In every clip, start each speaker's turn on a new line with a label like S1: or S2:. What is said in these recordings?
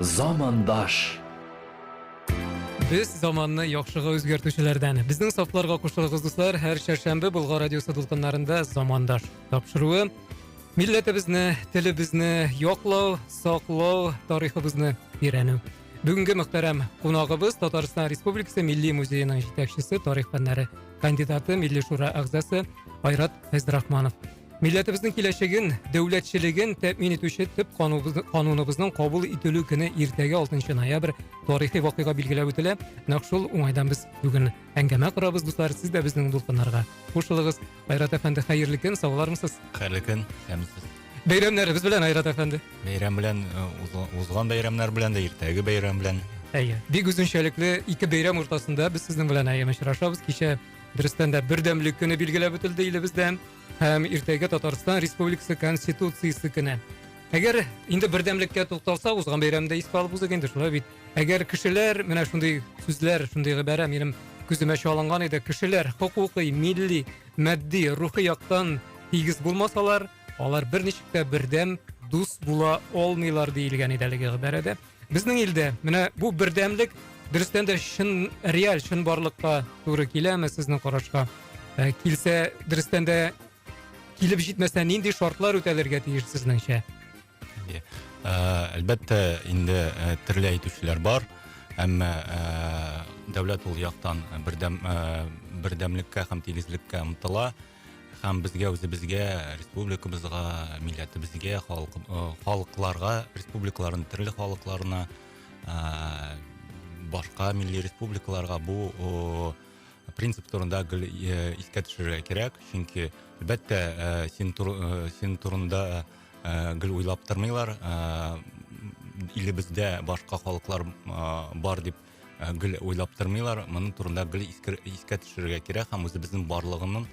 S1: Замандаш.
S2: Без заманны яхшыга үзгәртүчеләрдән. Безнең сафларга кушылыгыз, дуслар. Һәр чәршәмбе Болгар радиосы дулкыннарында замандаш тапшыруы. Милләтебезне, телебезне яклау, саклау, тарихыбызны өйрәнү. Бүгенге мөхтәрәм кунагыбыз Татарстан Республикасы Милли музееның җитәкчесе, тарих фәннәре кандидаты, Милли шура әгъзасы Айрат Фәйзрахманов. Милләтебезнең киләчәген, дәүләтчелеген тәэмин итүче төп кануныбызның кабул ителү көне иртәгә 6 ноябрь тарихи вакыйга билгеләп үтелә. Нәкъ шул уңайдан без бүген әңгәмә корабыз, дуслар. Сез дә безнең дулкыннарга кушылыгыз. Айрат әфәнде, хәерле көн, сау булармысыз? Хәерле көн, һәм
S3: сез. Бәйрәмнәребез белән,
S2: Айрат әфәнде. Бәйрәм белән,
S3: узган бәйрәмнәр белән дә, иртәге бәйрәм белән. Әйе. Бик
S2: үзенчәлекле ике бәйрәм уртасында без сезнең белән әйе очрашабыз. Кичә дөрестән дә бердәмлек көне билгеләп үтелде илебездә һәм иртәгә Татарстан Республикасы Конституциясе көне. Әгәр инде бердәмлеккә тукталса, узган бәйрәмдә искә алып узыйк инде, шулай бит. Әгәр кешеләр, менә шундый сүзләр, шундый гыйбарә минем күземә чалынган иде. Кешеләр хокукы, милли, матди, рухи яктан тигез булмасалар, алар берничек тә бердәм, дус була алмыйлар диелгән иде әлеге гыйбарәдә. Безнең илдә менә бу бердәмлек дөрестән дә чын реаль чынбарлыкка туры киләме сезнең карашка? Ә, килсә, дөрестән дә килеп җитмәсә, нинди шартлар үтәлергә тиеш сезнеңчә?
S3: Әлбәттә, инде төрле әйтүчеләр бар, әмма дәүләт ул яктан бердәм, бердәмлеккә һәм тигезлеккә омтыла. Һәм безгә үзебезгә, республикабызга, милләтебезгә, халык, халыкларга, республикаларның төрле халыкларына, башка милли республикаларга бу принцип турында гел искә төшерергә кирәк. Чөнки, әлбәттә, син, син турында, Э, гел уйлап тормыйлар э, илебездә башка халыклар э, бар дип гел уйлап тормыйлар моның турында гел искә төшерергә кирәк һәм үзебезнең барлыгының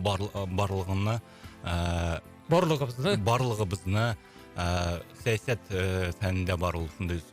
S3: бар, барлыгына ә, барлыгыбызны барлыгыбызны ә, сәясәт ә, фәнендә бар ул шундый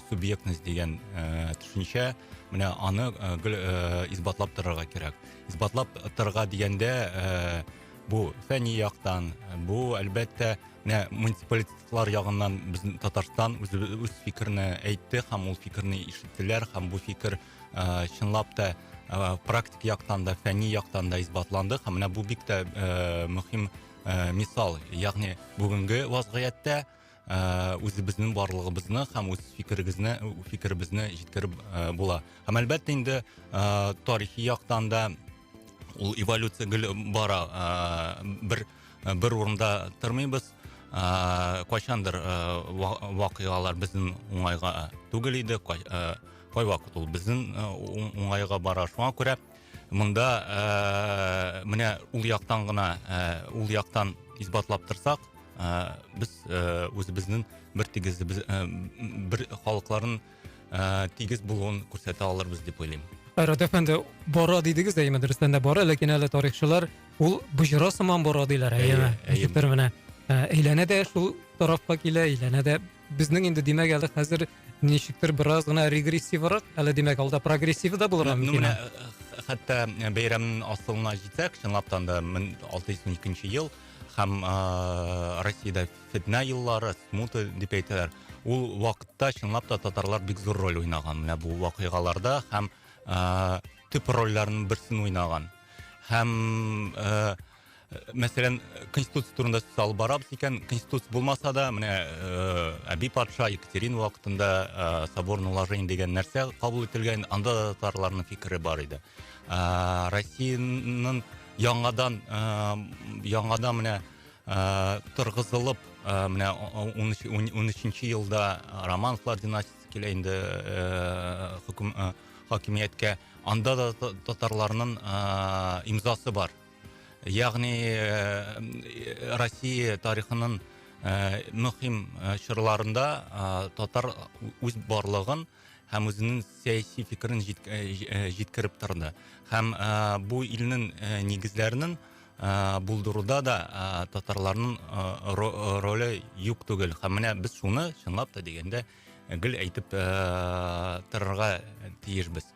S3: субъектность дигән ә, төшенчә менә аны ә, гел ә, исбатлап торырга кирәк исбатлап торырга дигәндә ә, Бу фәнни яктан, бу әлбәттә, менә муниципалитетлар ягыннан безнең Татарстан үз үз фикерен әйтте һәм ул фикерне ишеттеләр һәм бу фикер ә, чынлап та ә, практик яктан да, фәнни яктан да исбатланды һәм менә бу бик тә ә, мөһим ә, мисал, ягъни бүгенге вазгыятьтә ыыы үзебезнең барлыгыбызны һәм үз фикерегезне фикеребезне җиткереп ы була һәм әлбәттә инде ыыы тарихи яктан да ул эволюция гел бара ыыы бер бер урында тормыйбыз ыыы кайчандыр ыыы вакыйгалар безнең уңайга түгел иде кайвакыт ул безнең уңайга бара шуңа күрә Монда ә, менә ул яктан гына, ә, ул яктан исбатлап торсак, ә, без ә, үзебезнең бер тигез без, ә, бер халыкларын ә, тигез булуын күрсәтә алырбыз дип уйлыйм. Айрат әфәнде,
S2: бора дидегез әйеме, дөрестән дә бора, ләкин әле тарихчылар ул боҗра сыман бора диләр, әйеме? Әйе, әйе. Ә, әйләнә дә шул тарафка килә, әйләнә дә Безнең инде димәк әле хәзер ничектер бераз гына регрессиврак, әле димәк алда прогрессивы да булырга ну, мөмкин. Ну, хәтта
S3: э, бәйрәмнең асылына җитсәк, чынлап та 1612 ел һәм ә, Россиядә фетнә еллары, смуты дип әйтәләр. Ул вакытта чынлап та татарлар бик зур роль уйнаган менә бу вакыйгаларда һәм ә, төп рольләрнең берсен уйнаган. Һәм ә, мәсәлән конституция турында сүз алып барабыз икән конституция булмаса да менә э, әби патша екатерина вакытында э, соборное уложение дигән нәрсә кабул ителгән анда да татарларның фикере бар иде э, россиянең яңадан яңадан менә торгызылып менә он өченче елда романовлар династиясе килә инде хөкем хакимияткә анда да татарларның имзасы бар Ягъни Россия тарихының мөһим чорларында татар үз барлыгын һәм үзенең сәяси фикерен җиткереп торды. Һәм бу илнең нигезләренең булдыруда да татарларның роле юк түгел. Һәм менә без шуны чынлап та дигәндә гел әйтеп торырга тиешбез.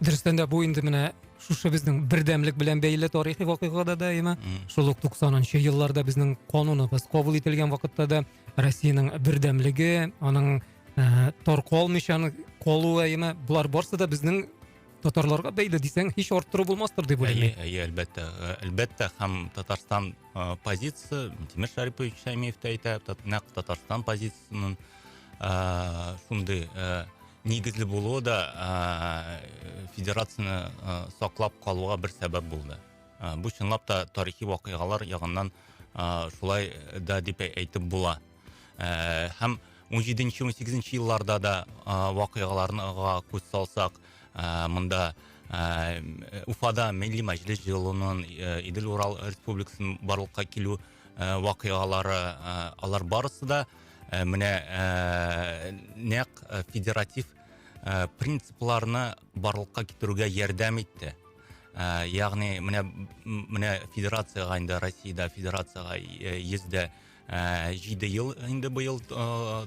S2: дөрестән дә бу инде менә шушы безнең бердәмлек белән бәйле тарихи вакыйга да даимә шул ук туксанынчы елларда безнең кануныбыз кабул ителгән вакытта да россиянең бердәмлеге аның ә, таркалмыйча калуы әйеме болар барысы да безнең татарларга бәйле дисәң һич арттыру булмастыр дип уйлыйм әйе әйе әлбәттә ә, әлбәттә
S3: һәм татарстан ә, позициясе тимер шарипович шәймиев тә әйтә нәкъ татарстан позициясеннән ә, шундый ә, Нигезле булуы да федерацияне саклап калуга бер сәбәп булды. Бу чынлап та тарихи вакыйгалар ягыннан шулай да дип әйтеп була. Һәм 17-18 елларда да вакыйгаларга күз салсак, монда Уфада милли мәҗлес җыелуның Идел-Урал республикасының барлыкка килү Э, вакыйгалары э, алар барысы да э, менә нәкъ федератив принципларны барлыкка китерүгә ярдәм итте ягъни менә менә федерацияга инде россиядә федерацияга йөз дә җиде ел инде быел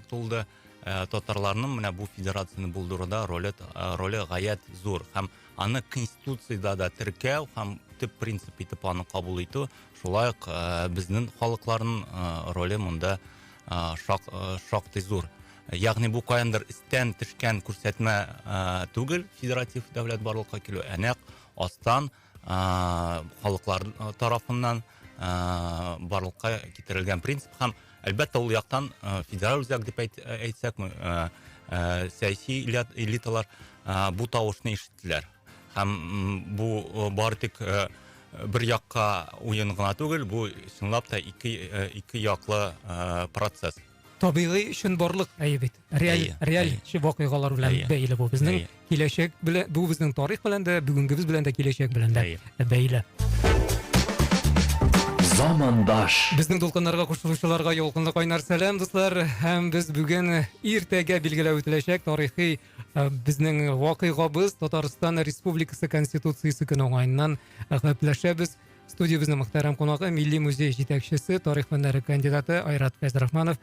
S3: тулды Э, татарларның менә бу федерацияне булдыруда роле э, роле гаять зур һәм аны конституциядә дә теркәү һәм төп принцип итеп аны кабул итү шулай ук э, безнең халыкларның роле монда шак, шактый зур ягъни бу каяндыр истән төшкән күрсәтмә түгел федератив дәүләт барлыкка килү ә нәкъ астан халыклар тарафыннан барлыкка китерелгән принцип һәм әлбәттә ул яктан федераль үзәк дип әйтсәк сәяси элиталар бу тавышны ишеттеләр һәм бу бары тик бер якка уен гына түгел бу чынлап та ике яклы процесс табигый
S2: өчен барлык әйе бит реаль реаль вакыйгалар белән бәйле бу безнең киләчәк белән бу безнең тарих белән дә бүгенгебез белән дә киләчәк белән дә бәйле
S1: замандаш безнең дулкыннарга
S2: кушылучыларга ялкынлы кайнар сәлам дуслар һәм без бүген иртәгә билгеләп үтеләчәк тарихи э, безнең вакыйгабыз татарстан республикасы конституциясе көне уңаеннан гәпләшәбез студиябезнең мөхтәрәм кунагы милли музей җитәкчесе тарих фәннәре кандидаты айрат фәйзрахманов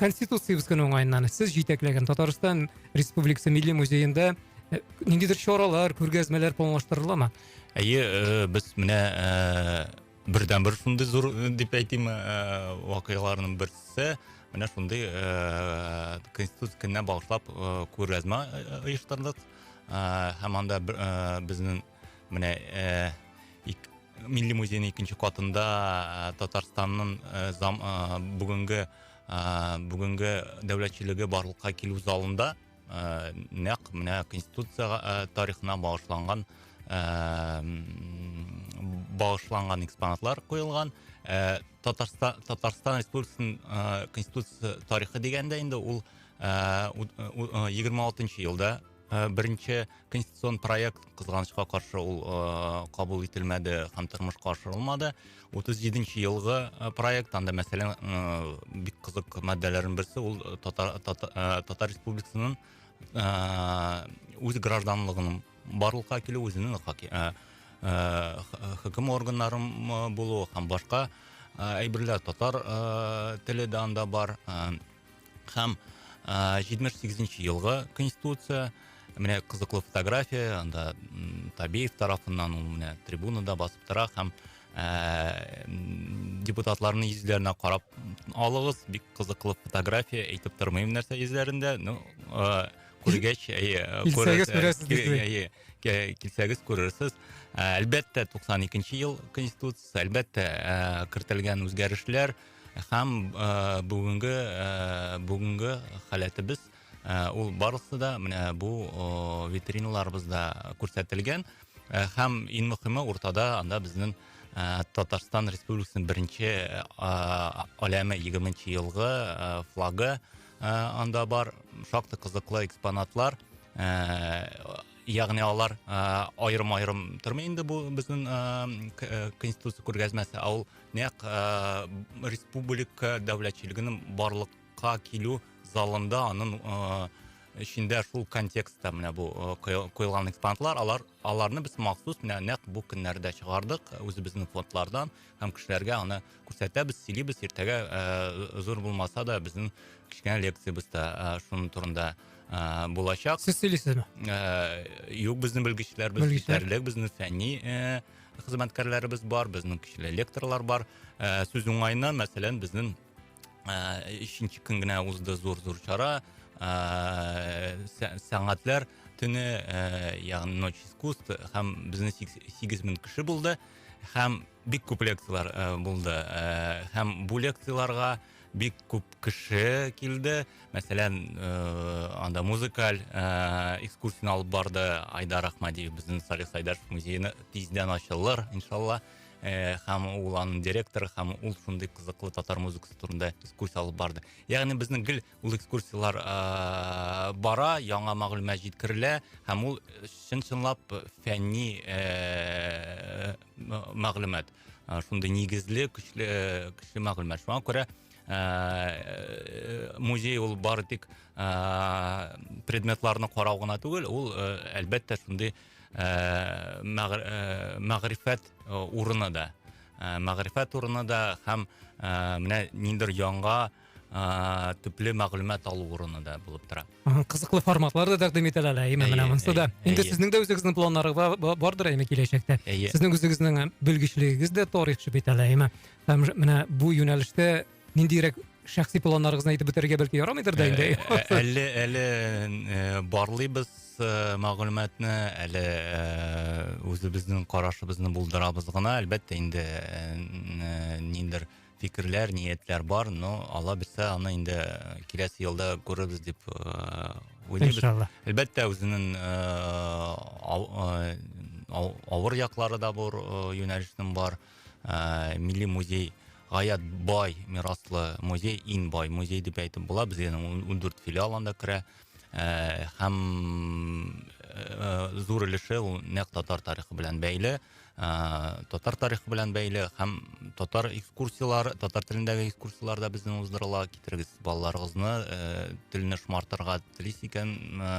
S2: конституциябез көне уңаеннан сез җитәкләгән татарстан республикасы милли музеенда э, ниндидер чаралар күргәзмәләр планлаштырыла ма әйе э,
S3: без менә э, бердән бер шундый зур дип әйтим вакыйгаларның берсе менә шундый конституция көненә багышлап күргәзмә оештырдык һәм анда безнең Менә э, ик, Милли музейның икенче катында э, Татарстанның э, зам, э, бүгенге э, бүгенге дәүләтчелеге барлыкка килү залында э, нәкъ менә конституция э, тарихына багышланган э, багышланган экспонатлар куелган. Э, Татарстан Татарстан Республикасының э, конституция тарихы дигәндә инде ул э, 26 елда Э, беренче конституцион проект кызганычка каршы ул э, кабул ителмәде һәм тормышка ашырылмады 37 елгы э, проект анда мәсәлән бик кызык маддәләрнең берсе ул татар, татар, татар республикасының үз гражданлыгының барлыкка килү үзенең хөкем органнарын булу һәм башка әйберләр татар теле дә анда бар һәм җитмеш сигезенче елгы конституция менә кызыклы фотография анда табеев тарафыннан ул менә трибунада басып тора һәм ііі депутатларымның йөзләренә карап алыгыз бик кызыклы фотография әйтеп тормыйм нәрсә йөзләрендә ну күргәч килсәгез күрерсез әлбәттә туксан икенче ел конституциясе әлбәттә кертелгән үзгәрешләр Һәм бүгенге бүгенге халәтебез ул барысы да менә бу витриналарыбызда күрсәтелгән. Һәм иң мөхиме уртада анда безнең Татарстан Республикасының беренче аләме 20 елгы флагы анда бар. Шактый кызыклы экспонатлар. Ягъни алар аерым-аерым тормый инде бу безнең конституция күргәзмәсе, ә ул нәкъ республика дәүләтчелегенең барлыкка килү залында аның эчендә шул контекстта менә бу куелган экспонатлар алар аларны без махсус менә нәкъ бу көннәрдә чыгардык үзебезнең фондлардан һәм кешеләргә аны күрсәтәбез сөйлибез иртәгә зур булмаса да безнең кечкенә лекциябез дә шуның турында ә, булачак. Сез сөйлисезме? Ә,
S2: юк,
S3: безнең белгечләр, без җитәрлек, безнең фәнни ә, хезмәткәрләребез бар безнең көчле лекторлар бар ә, сүз уңаена мәсәлән безнең өченче көн генә узды зур зур чара сәнгатьләр төне ягъни ночь искусств һәм безнең сигез мең кеше булды һәм бик күп лекциялар булды һәм бу лекцияларга бик күп кеше килде мәсәлән э, анда музыкаль э, экскурсияны алып барды айдар ахмадиев безнең салих сайдаров музейны тиздән ачылыр иншалла э, һәм ул аның директоры һәм ул шундый кызыклы татар музыкасы турында экскурсия алып барды ягъни безнең гел ул экскурсиялар э, бара яңа мәгълүмат җиткерелә һәм ул чын чынлап фәнни э, мәгълүмат шундый нигезле көчле көчле мәгълүмат шуңа күрә Э, музей ул бары тик э, предметларны карау гына түгел ул э, әлбәттә шундый мәгрифәт урыны да мәгрифәт урыны да һәм менә ниндер яңа ә, төпле мәгълүмат алу урыны да булып тора Ага, кызыклы форматлар
S2: да тәкъдим ителә әле әйе менә Әйе, монысы да әйе, инде әйе. сезнең дә үзегезнең планнарыгыз ба- ба- бардыр әйме киләчәктә Әйе. сезнең үзегезнең ә, белгечлегегез дә тарихчы бит әле әйме һәм ж- менә бу юнәлештә ниндирәк шәхси планнарыгызны әйтеп бетерергә бәлки ярамыйдыр да инде Ә- ә- әле әле э,
S3: барлыйбыз э, мәгълүматны әле э, үзебезнең карашыбызны булдырабыз гына әлбәттә инде э, н- э, ниндер фикерләр, ниятләр бар, но Алла бирсә, аны инде э, киләсе елда күрербез дип э, уйлыйбыз. Иншалла. Әлбәттә, үзенең э, авыр яклары да бар, юнәлешнең бар. Милли музей гаять бай мираслы музей, иң бай музей дип әйтеп була. Безнең 14 филиал анда керә. Һәм зур өлеше ул нәкъ татар тарихы белән бәйле. ә, татар тарихы белән бәйле һәм татар экскурсиялар татар телендәге экскурсиялар да бездән уздырыла китерегез балаларыгызны ә, телне шомартырга телис икән ә,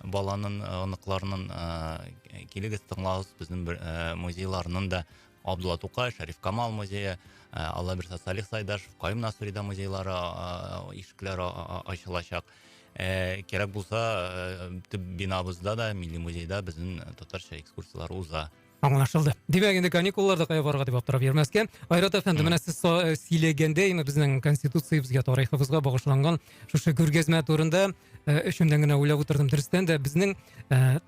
S3: баланын оныкларынын ә, килегез тыңлагыз безнең ә, музейларның да Абдулла Тукай, Шәриф Камал музейы, ә, Аллабирса Салих Сайдашев, Каюм Насырида музейлары ә, ишекләре ачылачак. Ә, кирәк булса, ә, төп бинабызда да, милли музейда безнең татарча экскурсияләр уза. Аңлашылды. Димәк,
S2: инде каникулларда кая барырга дип аптырап йөрмәскә. Айрат әфәнде, менә сез э, сөйләгәндә, янә безнең конституциябезгә, тарихыбызга багышланган шушы күргәзмә турында э, эчемнән генә уйлап утырдым. Дөрестән дә безнең э,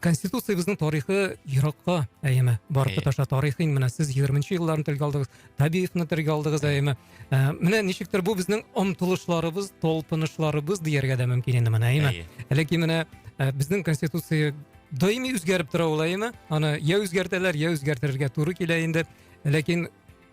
S2: конституциябезнең тарихы еракка әйеме барып тоташа тарихын менә сез егерменче елларны телгә алдыгыз табиевны телгә алдыгыз әйеме ә, менә ничектер бу безнең омтылышларыбыз талпынышларыбыз дияргә дә мөмкин инде менә әйеме әлеки менә ә, безнең конституция даими үзгәреп тора ул әйеме аны я үзгәртәләр я үзгәртергә туры килә инде ләкин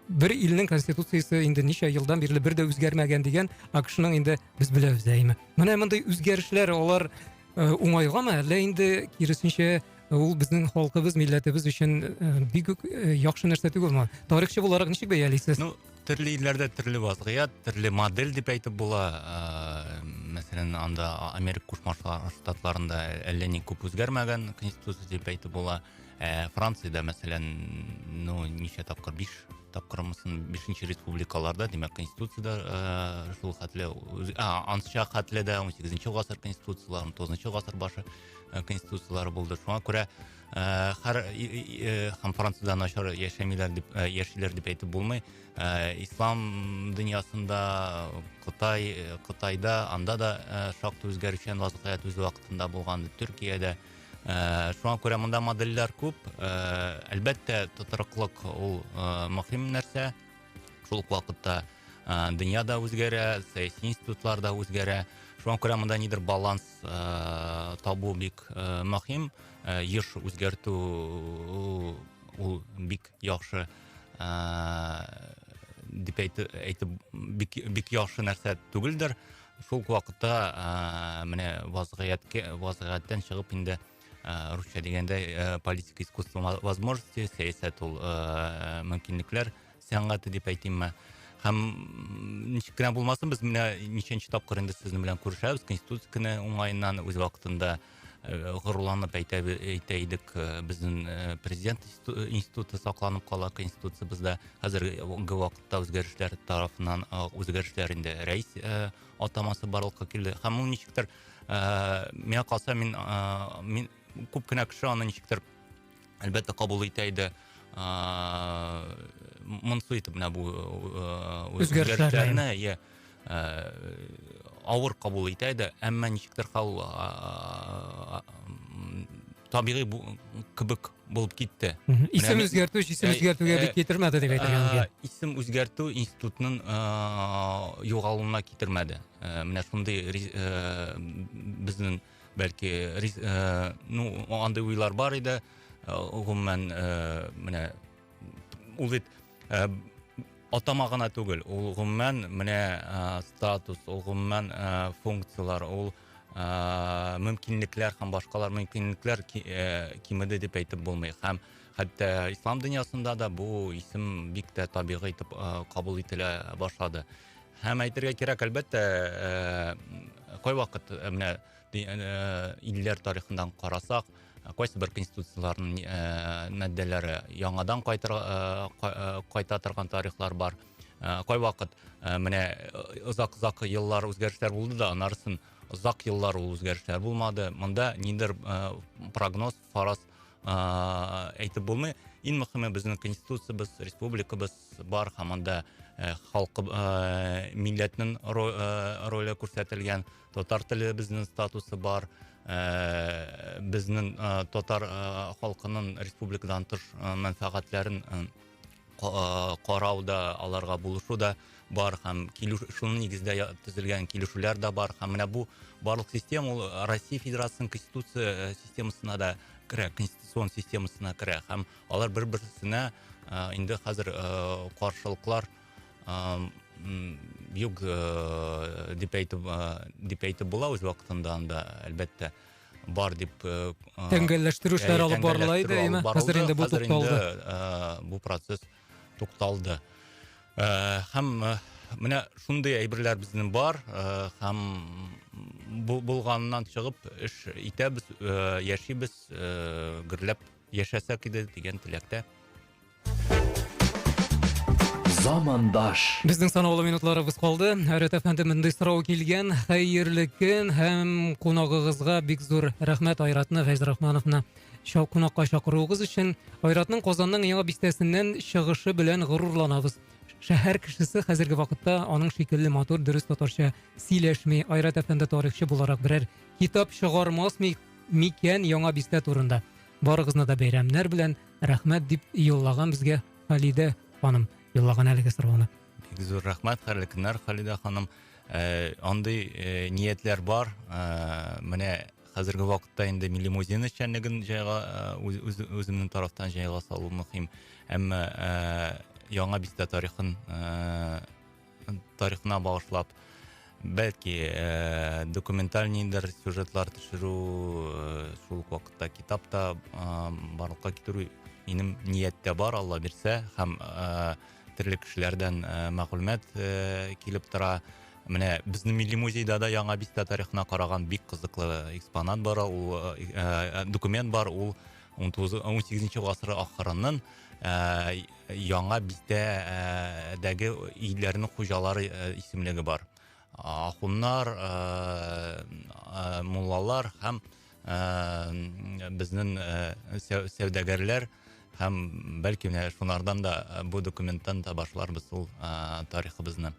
S2: бер илнең конституциясе инде ничә елдан бирле бер дә үзгәрмәгән дигән акшның инде без беләбез әйеме менә мондый үзгәрешләр алар Э, уңайгамы әллә инде киресенчә э, ул безнең халкыбыз милләтебез өчен э, бик үк яхшы нәрсә түгелме тарихчы буларак ничек бәялисез ну төрле илләрдә
S3: төрле вазгыять төрле модель дип әйтеп була мәсәлән анда америка кушма штатларында әллә ни күп үзгәрмәгән конституция дип әйтеп була ә, франциядә мәсәлән ну ничә тапкыр биш тапкырмысын бишенче республикаларда димәк конституцияда ә, шул хәтле ә, ансча хәтле дә он сегізінші гасыр конституциялары он тоғызыншы гасыр башы э, конституциялары булды шуңа күрә ә, һәр һәм францияда начар яшәмиләр дип ә, яшиләр дип әйтеп булмый ә, ислам дөньясында кытай кытайда анда да ә, шактый үзгәрүчән вазгыять үз вакытында булган төркиядә Шуңа күрә монда модельләр күп. Әлбәттә, тотрыклык ул мөһим нәрсә. Шул ук вакытта дөнья да үзгәрә, сәяси институтлар да үзгәрә. Шуңа күрә монда нидер баланс табу бик мөһим. Еш үзгәртү ул бик яхшы дип әйтеп бик яхшы нәрсә түгелдер. шул ук вакытта ыыы менә вазгыятькә вазгыятьтән чыгып инде ыыы русша дигәндә ыыы политика искусство возможностей сәясәт ул ыыы мөмкинлекләр сәнгате дип әйтимме һәм ничек кенә булмасын без менә ничәнче тапкыр инде сезнең белән күрешәбез конституция көне уңаеннан үз вакытында Э, горурланып әйтә, әйтә идек э, безнең э, президент институты сакланып кала конституциябездә хәзерге вакытта үзгәрешләр тарафыннан үзгәрешләр инде рәис атамасы барлыкка килде һәм ул ничектер миңа калса мин, мин күп кенә кеше аны ничектер әлбәттә, кабул итә иде. Монсы итеп менә бу үзгәрешләрне, иә, авыр кабул итә иде, әмма ничектер хал табигый кебек булып китте. Исем үзгәртү,
S2: исем үзгәртүгә бик китермәде дип әйтергә мөмкин. Исем үзгәртү
S3: институтның югалуына китермәде. Менә шундый безнең бәлки э, ну андый уйлар бар иде э, гомумән э, менә ул бит атама гына түгел ул гомумән менә статус ул гомумән функцияләр ул мөмкинлекләр һәм башкалар мөмкинлекләр кимеде дип әйтеп булмый һәм хәтта ислам дөньясында да бу исем бик тә табигый итеп кабул ителә башлады Һәм әйтергә кирәк, әлбәттә, э, кайвакыт э, менә э, илләр тарихыннан карасак, кайсы бер конституцияләрнең маддәләре яңадан кайта торган тарихлар бар. Кайвакыт менә озак-озак еллар үзгәрешләр булды да, анарсын озак еллар ул үзгәрешләр булмады. Монда ниндер прогноз, фараз ыыы әйтеп булмый иң мөхиме безнең конституциябез республикабыз бар һәм анда ы халкы ыыы милләтнең ыыы роле күрсәтелгән татар теле безнең статусы бар ыыы безнең ы татар ы халкының республикадан тыш мәнфәгатьләрен карау да, аларга булышу да бар һәм шуның нигездә төзелгән килешүләр дә бар һәм менә бу барлык система ул Россия Федерациясенең конституция э, системасына да керә, конституцион системасына керә һәм алар бер-берсенә э, инде хәзер э, каршылыклар юк дип әйтеп дип әйтеп була үз вакытында анда әлбәттә. Ә, бар дип тәңгәлләштерү
S2: эшләре алып барыла иде әйме хәзер инде бу тукталды бу процесс
S3: тукталды һәм менә шундый әйберләр безнең бар һәм бу булганнан чыгып эш итәбез яшибез гөрләп яшәсәк иде дигән теләктә
S1: замандаш безнең санаулы
S2: минутларыбыз калды рт фмде мондый сорау килгән хәерле көн һәм кунагыгызга бик зур рәхмәт айратны гайзрахмановны кунакка чакыруыгыз өчен айратның казанның яңа бистәсеннән чыгышы белән горурланабыз шәһәр кешесе хәзерге вакытта аның шикелле матур дөрес татарча сөйләшми айрат әфәнде тарихчы буларак берәр китап чыгармас микән яңа бистә турында барыгызны да бәйрәмнәр белән Рәхмәт, дип юллаган безгә Халидә ханым юллаган әлеге сорауны. Бик зур рәхмәт,
S3: хәерле көннәр, Халидә ханым. Э, андый э, ниятләр бар. Э, менә хәзерге вакытта инде милли музейның эшчәнлеген җайга үземнең тарафтан җайга салу мөһим. Әмма яңа бистә тарихын тарихына багышлап, бәлки э, документаль ниндер сюжетлар төшерү э, шул ук вакытта китап та э, барлыкка китерү минем нияттә бар алла бирсә һәм э, төрле кешеләрдән э, мәгълүмат э, килеп тора менә безнең милли музейда да яңа бистә тарихына караган бик кызыклы экспонат бар ул э, э, документ бар ул 19 18 гасыр ахырыннан э, Яңа бистә дәге ийләрнең хуҗалары исемлеге бар. Ахуннар, муллалар һәм безнең сәүдәгәрләр һәм бәлки менә шунардан да бу документтан да башларбыз ул тарихыбызны.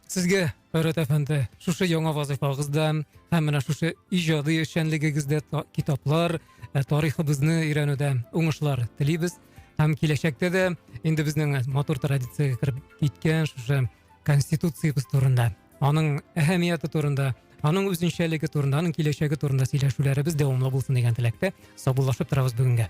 S2: Сезгә, Айрат әфәнде, шушы яңа вазыйфагызда һәм менә шушы иҗади эшчәнлегегездә китаплар, э, тарихыбызны өйрәнүдә уңышлар телибез. Һәм киләчәктә дә инде безнең матур традициягә кереп киткән шушы Конституциябез турында, аның әһәмияте турында, аның үзенчәлеге турында, аның киләчәге турында сөйләшүләребез дәвамлы булсын дигән теләктә саубуллашып торабыз бүгенгә.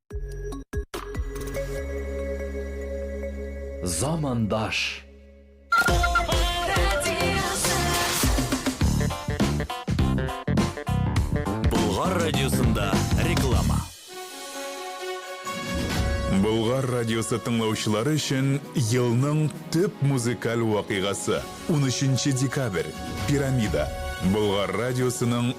S1: Замандаш. Болгар радиосында реклама.
S4: Болгар радиосы тыңлаучылары өчен елның төп музыкаль вакыйгасы 13 декабрь Пирамида Болгар радиосының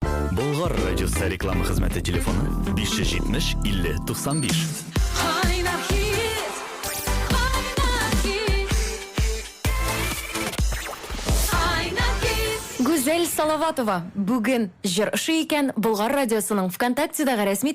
S1: Болгар радиосы реклама хезмәте телефоны 570 50 95. Кайнар хит, кайнар хит. Кайнар
S5: хит. Гүзәл Салаватова бүген җыр ошый икән, Болгар радиосының ВКонтактедагы рәсми